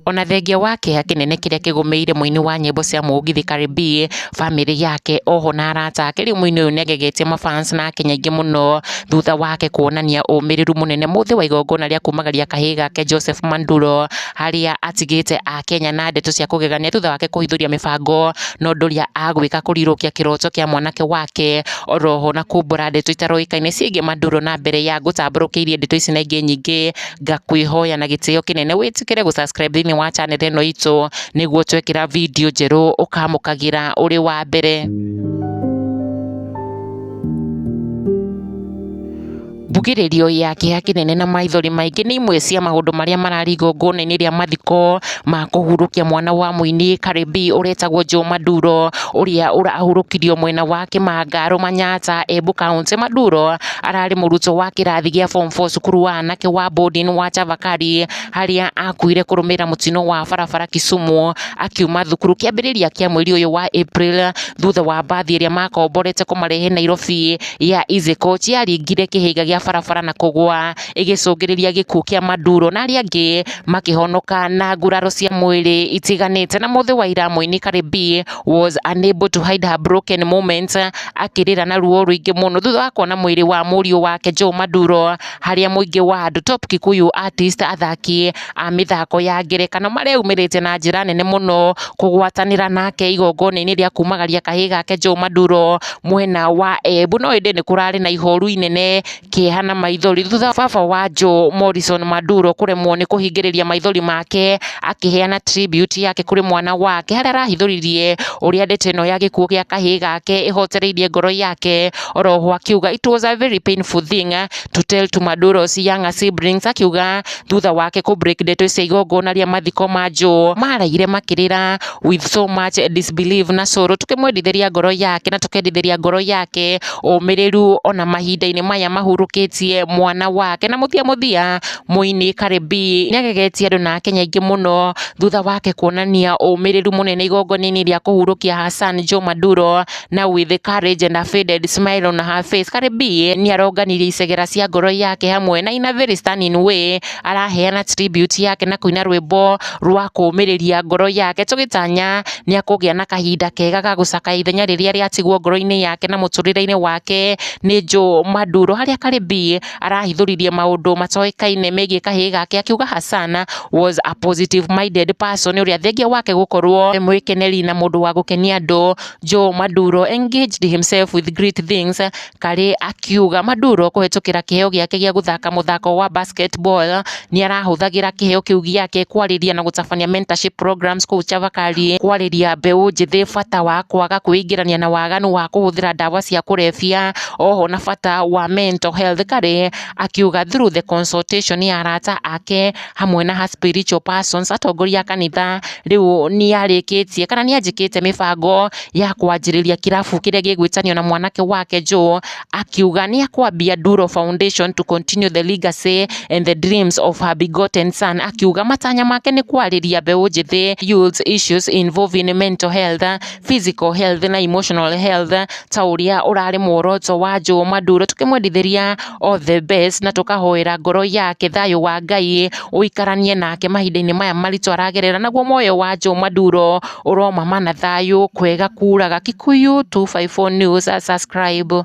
Ona thengia wa kĩeha kĩnene kĩrĩa kĩgũmĩire mũini wa nyĩmbo cia mũgithi Cardi B, bamĩrĩ yake oho na arata ake, rĩu mũini ũyũ nĩagegetie ma fans na akenya aingĩ mũno thutha wake kuonania ũmĩrĩru mũnene mũthĩ wa igongona rĩa kumagaria kahĩĩ gake Joseph Manduro. harĩa atigĩte Akenya na ndeto cia kũgegania thutha wake kũhithũria mĩbango na ũndũ ũrĩa agwĩka kũrirũkia kĩroto kĩa mwanake wake oroho na kumbũra ndeto itaroĩkaine ciĩgiĩ Maduro na mbere ya ngũtambũrũkĩirie ndeto ici na ingĩ nyingĩ ngakwĩhoya na gĩtĩo kĩnene wĩtĩkĩre gũsubscribe thĩinĩ wa channel ĩno itũ nĩguo twekĩra video njerũ ũkamũkagĩra ũrĩ wa mbere. Mbugĩrĩrio ya kĩeha kĩnene na maithori maingĩ nĩ imwe cia maũndũ marĩa mararĩ igongona-inĩ rĩa mathiko ma kũhurũkia mwana wa mũini Karĩmbii ũretagwo Joe Maduro ũrĩa ũrahurũkirio mwena wa Kĩmangaro Manyatta Embu County. Maduro ararĩ mũrutwo wa kĩrathi gĩa form 4 cukuru wa anake wa boarding wa Chavakali harĩa akuire kũrũmĩrĩra mũtino wa barabara Kisumu akiuma thukuru kĩambĩrĩria kĩa mweri ũyũ wa April thutha wa mbathi ĩrĩa makomborete kũmarehe Nairobi ya Isiko ciaringire kĩhĩnga gĩa barabara na kũgwa ĩgĩcũngĩrĩria gĩkuũ kĩa Maduro na arĩa angĩ makĩhonoka na nguraro cia mwĩrĩ itiganĩte na mũthĩ wa ira mũini Cardi B was unable to hide her broken moment akĩrĩra na ruo rũingĩ mũno thutha wa kuona mwĩrĩ wa mũriũ wake Joe Maduro harĩa mũingĩ wa andũ Top Kikuyu artist athaki a mĩthako ya ngerekano mareyumĩrĩtie na njĩra nene mũno kũgwatanĩra nake igongona-inĩ rĩa kumagaria kahĩĩ gake Joe Maduro mwena wa Embu no ĩndĩ nĩ kũrarĩ na ihoru inene kĩeha na maithori thutha baba wa Joe Morrison Maduro kũremwo nĩ kũhingĩrĩria maithori make akĩheana tribute yake kũrĩ mwana wake harĩa arahithũririe ũrĩa ndeto ĩno ya gĩkuũ gĩa kahĩĩ gake ĩhotereirie ngoro yake oroho akiuga it was a very painful thing to tell to Maduro's younger siblings akiuga thutha wake kũ break ndeto cia igongona rĩa mathiko ma Joe, maaraire makĩrĩra with so much disbelief na sorrow, tũkĩmwendithĩria ngoro yake na tũkendithĩria ngoro yake ũmĩrĩru ona mahinda-inĩ maya mahurũkĩtie mwana wake, na mũthia mũthia mũini Cardi B nĩagegetie andũ na akenya aingĩ mũno thutha wake kuonania ũmĩrĩru mũnene igongona-inĩ rĩa kũhurũkia Hassan Joe Maduro. na with courage and a faded smile on her face Karĩmbi nĩaronganirie icegera cia ngoro yake hamwe na in a very stunning way araheana tribute yake na kũina rwĩmbo rwa kũmĩrĩria ngoro yake tũgĩtanya nĩakũgĩa na kahinda kega ga gũcakaya ithenya rĩrĩa rĩatigwo ngoro-inĩ yake na mũtũrĩre-inĩ wake nĩ Joe Maduro harĩa Karĩmbi arahithũririe maũndũ matoĩkaine megiĩ kahĩĩ gake akiuga Hassan was a positive minded person ũrĩa thengia wake gũkorwo e mwĩkeneri na mũndũ wa gũkenia andũ Joe Maduro engaged himself with great things karĩ akiuga Maduro kũhetũkĩra kĩheo gĩake gĩa gũthaka mũthako wa basketball nĩ arahũthagĩra kĩheo kĩu gĩake kwarĩria na gũtabania mentorship programs kũu Chavakali kwarĩria mbeũ njĩthĩ bata wa kwaga kwĩingĩrania na waganu wa kũhũthĩra ndawa cia kũrebia oho na bata wa mental health karĩ akiuga through the consultation ya arata ake hamwe na her spiritual persons, atongoria a kanitha rĩu nĩarĩkĩtie kana nĩanjĩkĩte mĩbango ya kwanjĩrĩria kĩrabu kĩrĩa gĩgwĩtanio na mwanake wake Joe, akiuga nĩakwambia Nduro Foundation to continue the legacy and the dreams of her begotten son, akiuga matanya make nĩ kwarĩria mbeũ njĩthĩ youths issues involving mental health, physical health na emotional health ta ũrĩa ũrarĩ muoroto wa Joe Maduro, tũkĩmwendithĩria all the best na tũkahoera ngoro yake thayũ wa Ngai ũikaranie nake mahinda-inĩ maya maritũ aragerera, naguo muoyo wa Joe Maduro ũromama na thayũ kwega kuraga. Kikuyu 254 News subscribe.